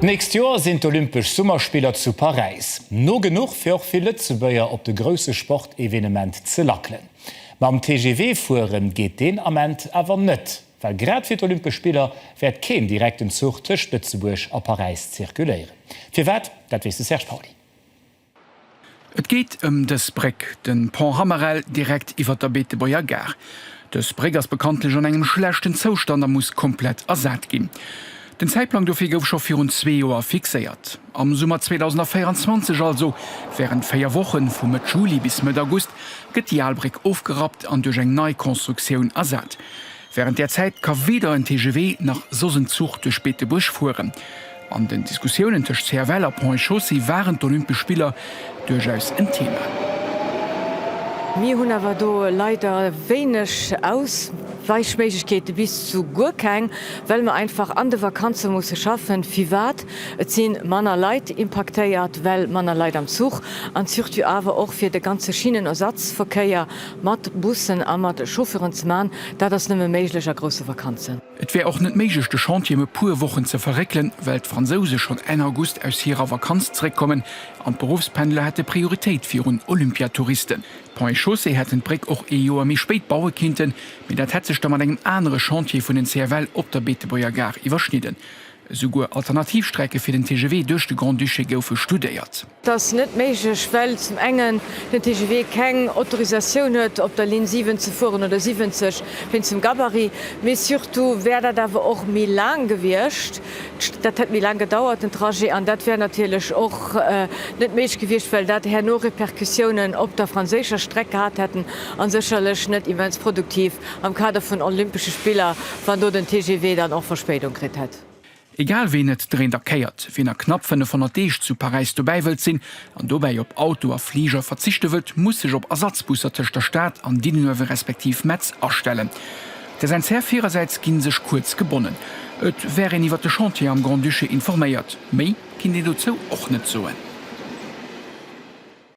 D'nächst Joer sinn d'Olympesch Summerspiller zu Paräis. No genuch fir och vill Lëtzebuerger op de grousse Sportevenement ze lackelen. Mam TGV fuere geet deen Ament awer net, well grad fir d'Olympesch Spiller wäert keen direkten Zuch tëscht Lëtzebuerg a Paräis zirkuléieren. Firwat, dat weess de Serge Pauly. Et geet ëm dës Bréck, de Pont Hammerel, direkt iwwer der Beetebuerger Gare. Dës Bréck ass bekanntlech an engem schlechten Zoustand a muss komplett ersat ginn. Den Zäitplang dofir gouf scho virun zwee Joer fixéiert, am Summer 2024, also wärend véier Wochen, vu Mëtt Juli bis Mëtt August, gëtt déi al Bréck ofgerappt an duerch eng nei Constructioun ersat. Wärend där Zäit ka weder en TGV nach soss en Zuch duerch Beetebuerg fueren. An den Diskussiounen tëscht CFL a Ponts et Chaussées waren d'Olympesch Spiller duerchaus en Thema. Mir hunn awer do leider wéineg Ausweichméiglechkeeten, bis zu guer keng, well mer einfach an de Vakanze musse schaffen. Firwat? Et si manner Leit impaktéiert, well manner Leit am Zuch an surtout awer och fir de ganze Schinnenersatzverkéier Mat Bussen a mat Chauffeuren ze man, dat ass nëmme méiglech a grousse Vakanzen. Et wär och net méiglech de Chantier em e puer Wochen ze verréckelen, well d'Fransouse schonn Enn August aus hirer Vakanz zeréckkommen an d'Beruffspendler hätte Prioritéit virun Olympiatouristen. D'Ponts et Chaussées hätten d'Bréck och ee Joer méi spéit baue kinnten, mee dat hätt sech da mat engem anere Chantier vun den CFL op der Beetebuerger Gare iwwerschnidden. Esouguer Alternativstrecke fir den TGV duerch de Grand-Duché goufe studéiert. Dat ass net méiglech, well zum engen den TGV keng Autorisatioun huet, op der Linn 7 ze fueren, oder 70, wéinst dem Gabarit. Mee surtout wär dat awer och méi laang gewiescht, dat hätt méi laang gedauert, den Trajet. An dat wär natierlech och net méiglech gewiescht, well dat herno Repercussiounen op der franséischer Streck gehat hätten a sécherlech net immens produktiv am Kader vun Olympesche Spiller, wann do den TGV dann och Verspéidung kritt hätt. Egal ween et dréint a kéiert, ween a knapp 500 Deeg zu Paräis dobäi wëllt sinn an dobäi op Auto a Fliger verzichte wëllt, muss sech op Ersatzbusser tëscht der Stad an Diddenoewe respektiv Metz astellen. Der SNCF hirersäits gi sech kuerz gebonnen, et wär een iwwer de Chantier am Grand-Duché informéiert, méi kinnt een dozou och net soen.